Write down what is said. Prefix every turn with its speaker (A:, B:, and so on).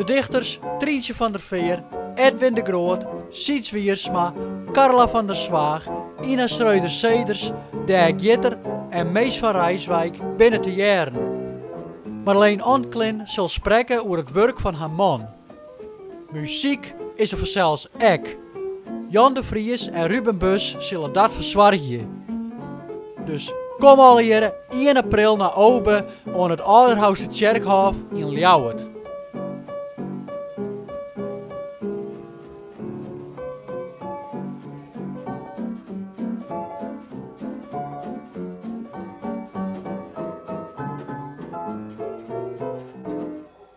A: De dichters Tryntsje van der Veer, Edwin de Groot, Syds Wiersma, Carla van der Zwaag, Ina Schroders-Zeeders, Dijk Jitter en Mees van Rijswijk binne te hearren. Marleen Onclin sil sprekke oer it wurk fan har man. Muzyk is der fansels ek. Jan de Vries en Ruben Bus sille dat fersoargje. Dus kom allegearre 1 april nei Obe oan it Aldehoustertsjerkhôf yn Ljouwert.